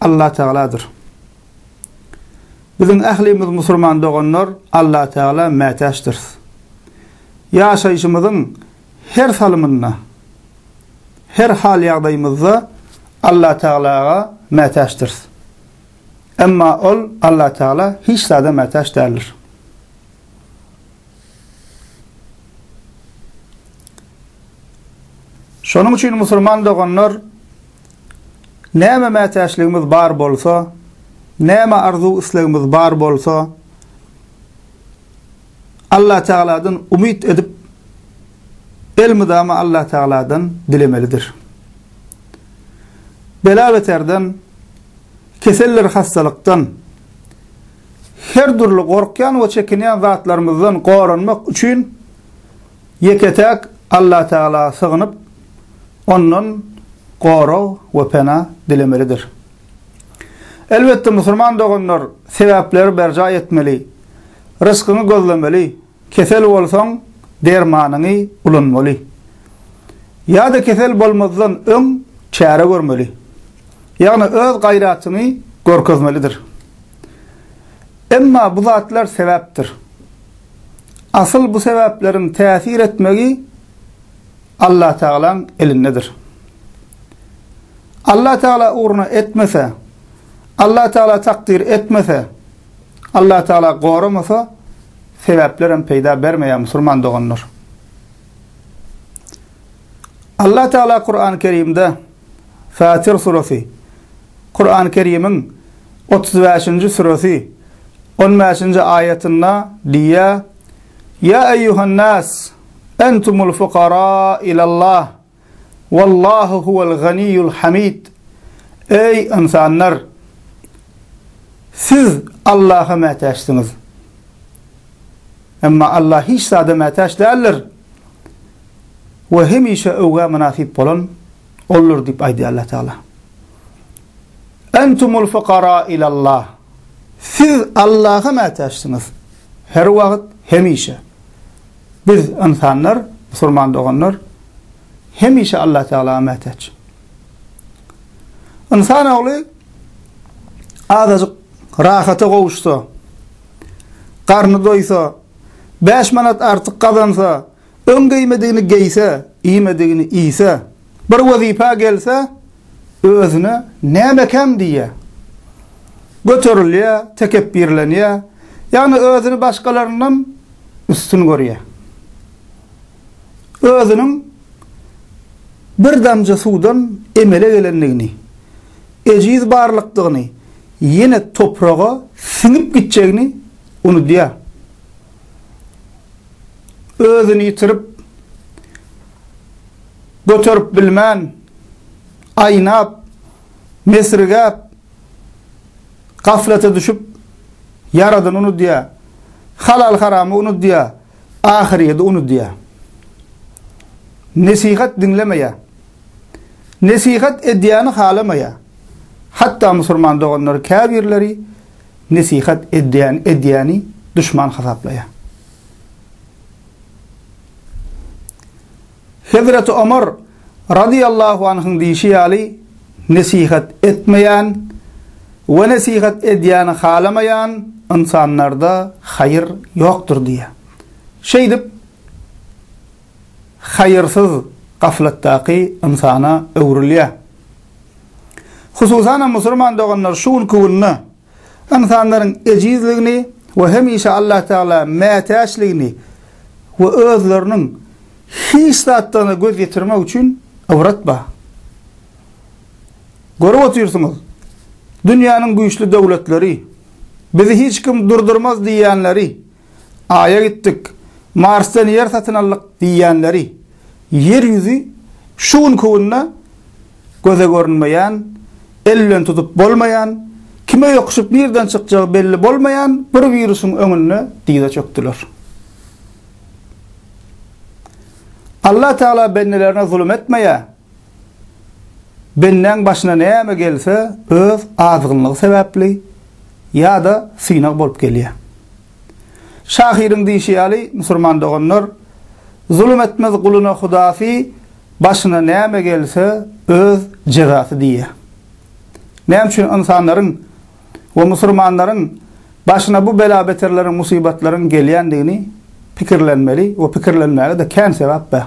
Allah Tagaladyr. Biziň ählimiz musulman doganlar Allah Tagala mätäçdiris. Ýaşaýşymyzyň her salymynda, her hal-ýagdaýymyzda Allah Tagalaga mätäçdiris. Emma Ol, Allah Tagala, hiç zada mätäç däldir. Şonuň üçin musulman doganlar Näme mätäçligimiz bar bolsa, näme arzuw-islegimiz bar bolsa, Allatagaladan umyt edip, elmydama Allatagaladan dilemelidir. Bela-beterden, keseldir-hassalykdan, her dürli gorkýan we çekinýän zatlarymyzdan goranmak üçin ýeke-täk Allatagalaa sygynyp, Ondan gorag we pena dilemelidir. Elbetde, musulman doganlar sebäpleri berjaý etmeli, rysgyňy gözlemeli, kesel bolsaň, dermanyňy ulanmaly. Ýa-da kesel bolmazdan öň çäre görmeli. Ýagny öz gaýratyňy görkezmelidir. Emma bu zatlar sebäpdir. Asyl bu sebäpleriň täsir etmegi Allatagalaň elindedir. Allatagala ugruna etmese, Allatagala takdyr etmese, Allatagala goramasa, sebäplerem peýda bermeýär, musulman doganlar. Allatagala Kur'an-ı Kerimde Fatir suresi, Kur'an-ı Kerim'in 35. suresi, 15. ayetinde diýýär, Ýa eýýuhan-nas, entumul fukara ilallah, wallahu huwal ganiýul hamid. Eý, ynsanlar! Siz Allaha mätäçsiňiz. Emma Allah hiç zada mätäç däldir we hemişe öwgä mynasyp bolan Oldur diýip aýdýar Allah Tagala. Entumul fukara ilallah. Siz Allaha mätäçsiňiz. Her wagt, hemişe. Biz, ynsanlar, musulman doganlar, hemişe Allatagala mätäç. Ynsan ogly azajyk rahata gowuşsa, garny doýsa, bäş manat artyk gazansa, Öň geýmedigini geýse, iýmedigini iýse, bir wezipä gelse, özüne näme ekäm diýýär. Göterilýär, tekepbirlenýär, ýagny özüni başgalaryndan üstün görýär. Özüniň bir damja suwdan emele gelendigini, ejiz barlykdygyny, ýene topraga siňip gitjegini unudýar. özüni ýitirip, göterip bilmän, aýnap, mesrigäp, gaflata düşüp, Ýaradyny unudýar, halal-haramy unudýar, ahyrýeti unudýar. Nesihat diňlemeýär. Nesihat edýäni halamaýar. Hatda musulman doganlar käbirleri Nesihat edýän edýäni duşman hasaplaýar. Hezreti Omar razyýallahu anhyň diýşi ýaly, Nesihat etmeýän we nesihat edýäni halamaýan ynsanlarda haýyr ýokdur diýýär. Şeýdip, haýyrsyz gaflatdaky ynsana öwrülýär. Hususan hem musulman doganlar şu günki günde ynsanlaryň ejizligini we hemişe Allatagala mätäçligini we özleriniň hiç zatdan-a göz ýetirmek üçin ybrat bar. Görüp otyrsyňyz, dünýäniň güýçli döwletleri, bizi hiç kim durdurmaz diýýänleri, Aýa gitdik, Marsdan ýer satyn aldyk diýýänleri Ýer ýüzi şu günki günde göze görünmeýän, el bilen tutup bolmaýan, kime ýokuşyp nireden çykjagy belli bolmaýan bir wirusyň öňünde dyza çökdüler. Allatagala bendelerine zulum etmeýär. Bendäň başyna näme gelse öz azgynlygy sebäpli ýa-da synag bolup gelýär. Şahyryň diýşi ýaly, musurman doganlar, Zulum etmez guluna hudasy, başyna näme gelse öz jezasy diýýär. Näme üçin ynsanlaryň we musurmanlaryň başyna bu bela-beterleriň, musybatlaryň gelýändigini pikirlenmeli we pikirlenmäge-de kän sebäp bar.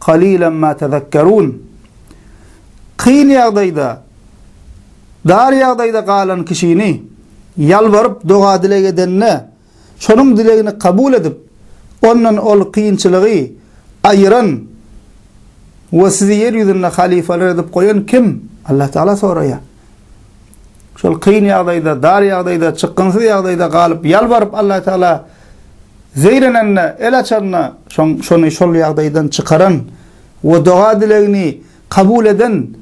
Kalilan ma tezekkerun. Kyn ýagdaýda, dar ýagdaýda galan kişini ýalbaryp doga-dileg edende, şonuň dilegini kabul edip, ondan ol kynçylygy aýyran we sizi ýer ýüzünde halifeler edip goýan kim? Allatagala soraýar. şol kyn ýagdaýda, dar ýagdaýda, çykgynsyz ýagdaýda galyp, ýalbaryp Alla Tagala zeýrenende, el açanda, şoň şony şol ýagdaýdan çykaran we doga-dilegini kabul eden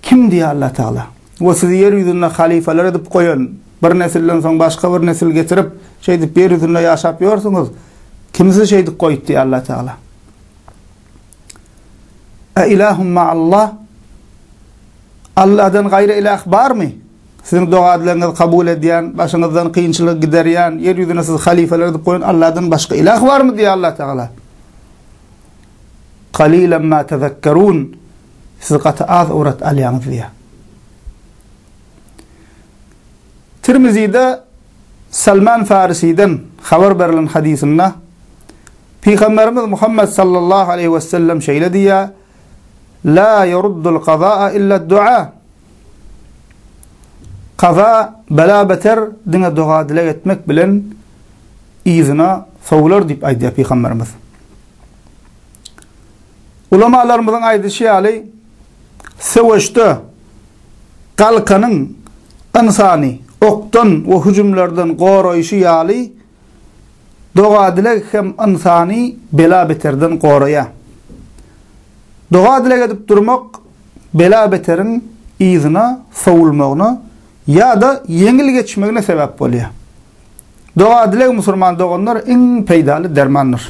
Kim diýýär Alla Tagala? We sizi ýer ýüzünde halyfalar edip goýan, bir nesilden soň başga bir nesil getirip, şeýdip ýer ýüzünde ýaşap ýörsiňiz, Kim sizi şeýdip goýupdy diýýär Alla Tagala. A ilahum ma'allah? Allahdan gaýry ilah barmy? Siziň dogadlaryňyzy kabul edýän, başyňyzdan kynçylygy giderýän, ýer ýüzüne sizi halyfalar edip goýan Allahdan başga ilah barmy? diýýär Allah Tagala. Qalilan ma tezekkerun. Siz gaty az ybrat alýaňyz diýýär. Tirmizide Salman Farisiden habar berlen hadysynda Pygamberimiz Muhammet sallallahu aleýhi we sellem şeýle diýýär, La ýeruddul kazaa illa dua. Kaza, bela beter diňe doga dileg etmek bilen yzyna sowular diýip aýdýar Pygamberimiz. Ulamalarymyzyň aýdyşy ýaly, söweşde galkanyň ynsany okdan we hüjümlerden goraýşy ýaly, doga-dileg hem ynsany bela-beterden goraýar. Doga-dileg edip durmak bela-beteriň yzyna sowulmagyna ýa-da ýeňil geçmegine sebäp bolýar. Doga-dileg musulman doganlar iň peýdaly dermandyr.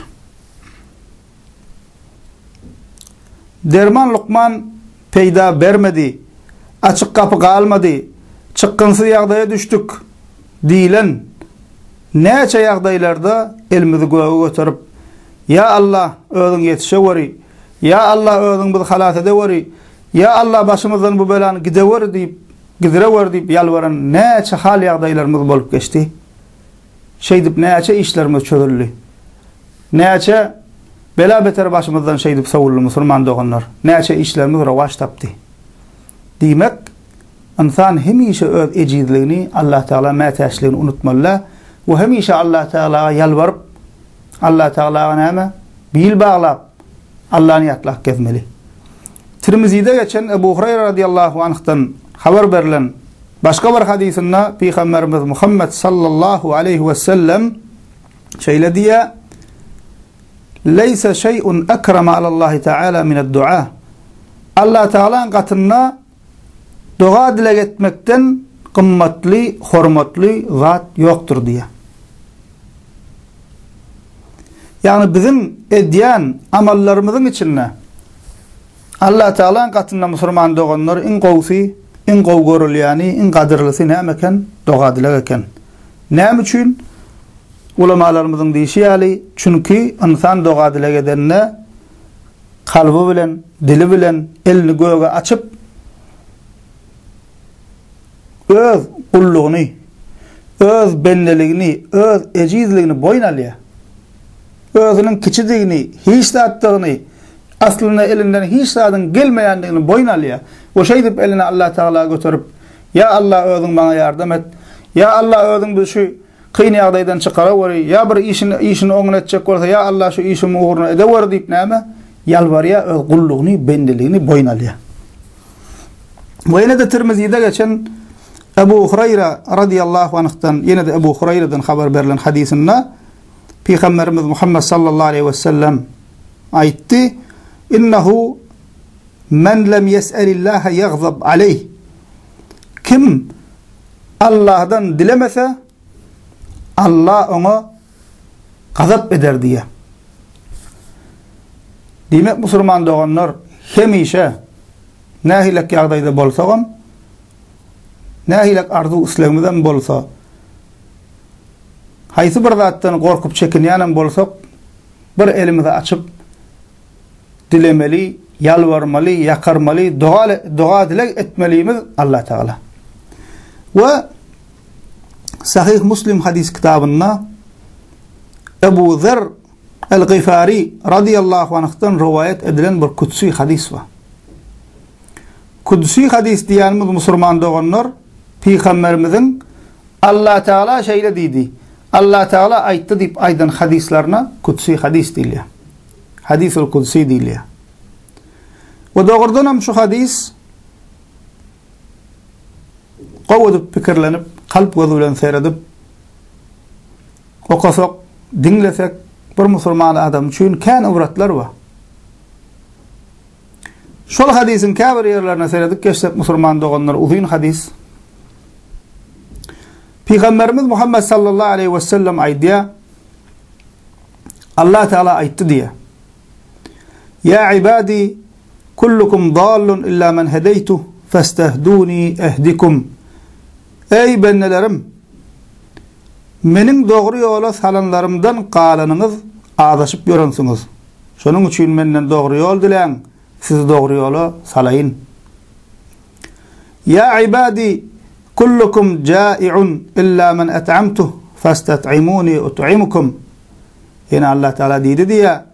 Derman lukman peýda bermedi, açyk gapy galmady, çykgynsyz ýagdaýa düşdük diýlen näçe ýagdaýlarda elimizi göge göterip, Ýa Alla, özüň ýetişeweri, Ýa Alla, özüň bizi halas edeweri, Ýa Alla, başymyzdan bu belany gideweri diýip, gidirewer diýip ýalbaran näçe hal-ýagdaýlarymyz bolup geçdi. Şeýdip näçe işlerimiz çözüldi. Näçe bela-beter başymyzdan şeýdip sowuldy musulman doganlar. Näçe işlerimiz rowaç tapdy. Diýmek, ynsan hemişe öz ejizligini, Allatagala mätäçligini unutmaly-da we hemişe Allatagalaga ýalbaryp, Allatagalaga näme, bil baglap, Allany ýatlap gezmeli. Tirmizide geçen Ebu Hureýre radiyallahu anhdan habar berlen Başga bir hadysynda Pygamberimiz Muhammet sallallahu aleýhi we sellem şeýle diýýär, Leýse şeý'un ekrama alallahi taala mined-du'a. Allah Tagalaň gatynda doga-dileg etmekden gymmatly, hormatly zat ýokdur diýýär. Ýagny biziň edýän amallarymyzyň içinde Allatagalaň gatynda musulman doganlar iň gowusy, iň gowy görülýäni, iň gadyrlysy näme eken? Doga-dileg eken. Näme üçin? Ulamalarymyzyň diýşi ýaly, çünki ynsan doga-dileg edende, kalby bilen, dili bilen elini göge açyp, öz gullugyny, öz bendeligini, öz ejizligini boýun alýar. özüniň kiçidigini, hiç zatdygyny, aslynda elinden hiç zadyň gelmeýändigini boýun alýar we şeýdip elini Allah Tagala göterip, Ýa Allah özüň maňa ýardam et, Ýa Allah özüň bizi şu kyn ýagdaýdan çykaraweri, ýa bir işini işini oňyn etjek bolsa ýa Allah şu işimi ugruna edeweri diýip näme? Ýalbarýar öz gullugyny, bendeligini boýun alýar. We ýene-de Tirmizide geçen Ebu Hurayra radiyallahu anh'dan ýene-de Ebu Huraýradan habar berlen hadysynda Pygamberimiz Muhammet sallallahu aleýhi we sellem aýtdy, Innehu men lem ýes'elillahe ýagzab aleýh. Kim Allahdan dilemese, Allah oňa gazap eder diýe. Diýmek, musulman doganlar hemişe nähilek ýagdaýda bolsagam, Nähilek arzuw-islegimizem bolsa, haýsy bir zatdan gorkup çekinýänem bolsak, bir elimizi açyp, dilemeli, ýalbarmaly, ýakarmaly, doga-dileg etmelimiz Allatagala. We Sahyh Muslim hadys kitabynda Ebu Zer Al-Gyfari radyýallahu anhdan rowaýat edilen bir kütsi hadys bar. Kütsi hadys diýýänimiz musurman doganlar Pygamberimiziň Allatagala şeýle diýdi, Allatagala aýtdy diýip aýdan hadyslaryna kütsi hadys diýilýär. Hadisul Kudsi diýilýär. We dogrudan hem şu hadys gowy edip pikirlenip, kalp gözi bilen seredip Okasak, diňlesek bir musulman adam üçin kän ybratlar bar. Şol hadysyň käbir ýerlerine seredip geçsek musulman doganlar uzyn hadys. Pygamberimiz Muhammed sallallahu aleýhi we sellem aýdýar, Allah Teala aýtdy diýe. Ya ibadi kullukum dallun illa men hedeytu fastahduni ehdikum. Eý, bendelerim! Meniň dogry ýola salanlarymdan galanyňyz azaşyp ýörensiňiz. Şonuň üçin Menden dogry ýol diläň, sizi dogry ýola salaýyn. Ýa ibadi, kullukum jai'un illa men et'amtuh, festat'imuni ut'imkum. Ýene Allatagala diýdi diýýär,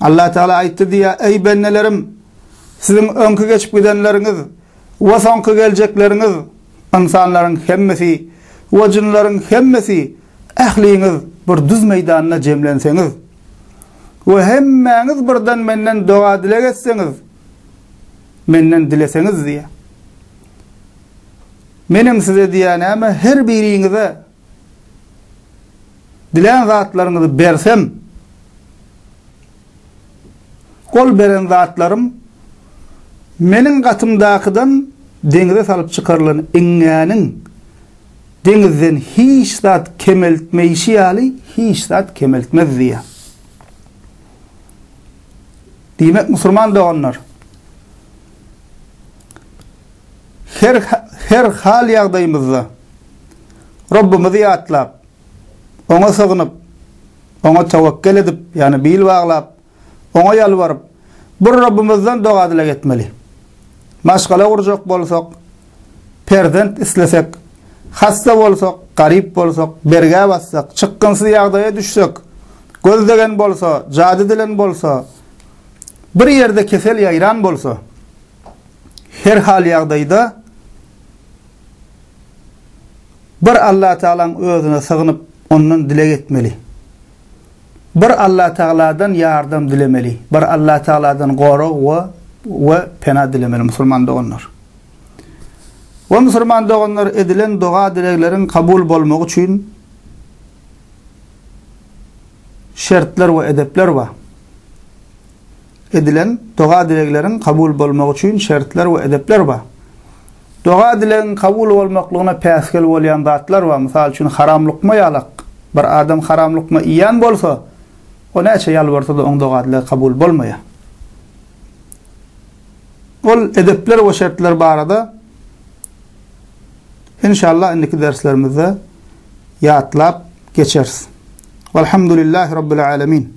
Allatagala aýtdy diýýär, Eý, bendelerim! Siziň öňki geçip gidenleriňiz we soňky geljekleriňiz, ynsanlaryň hemmesi we jynlaryň hemmesi, ähliňiz bir düz meýdanda jemlenseňiz we hemmäňiz birden Menden doga-dileg etseňiz, Menden dileseňiz diýýär. Meniň size diýýän näme, her biriňize Dilän zatlaryňyzy bersem, ol beren zatlarym meniň gatymdakydan deňize salyp çykarylan iňňäniň deňizden hiç zat kemeltmeýşi ýaly hiç zat kemeltmez diýýär. Diýmek, musulman doganlar, Her hal-ýagdaýymyzda Rabbimizi ýatlap, Oňa sygynyp, Oňa tewekgel edip, ýagny bil baglap, Oňa ýalbaryp, bir Rabbimizden doga-dileg etmeli. Maşgala gurjak bolsak, perzent islesek, hassa bolsak, garyp bolsak, bergä bassak, çykgynsyz ýagdaýa düşsek, göz degen bolsa, jady dilen bolsa, bir ýerde kesel ýaýran bolsa, Her hal ýagdaýda bir Allatagalaň özüne sygynyp ondan dileg etmeli. Bir Allatagaladan ýardam dilemeli. Bir Allatagaladan gorag we we pena dilemeli musulman doganlar. We musulman doganlar edilen doga dilegleriň kabul bolmagy üçin şertler we edepler bar. Edilen doga-dilegleriň kabul bolmagy üçin şertler we edepler bar. Doga-dilegiň kabul bolmaklygyna päsgel bolýan zatlar bar, mysal üçin, haram lukma ýalak. Bir adam haram lukma iýen bolsa, o näçe ýalbarsa-da oň doga-dilegi kabul bolmaýar. Ol edepler we şertler barada Inşallah indiki derslerimizde ýatlap geçeris. Walhamdulillahi Rabbil Alemin.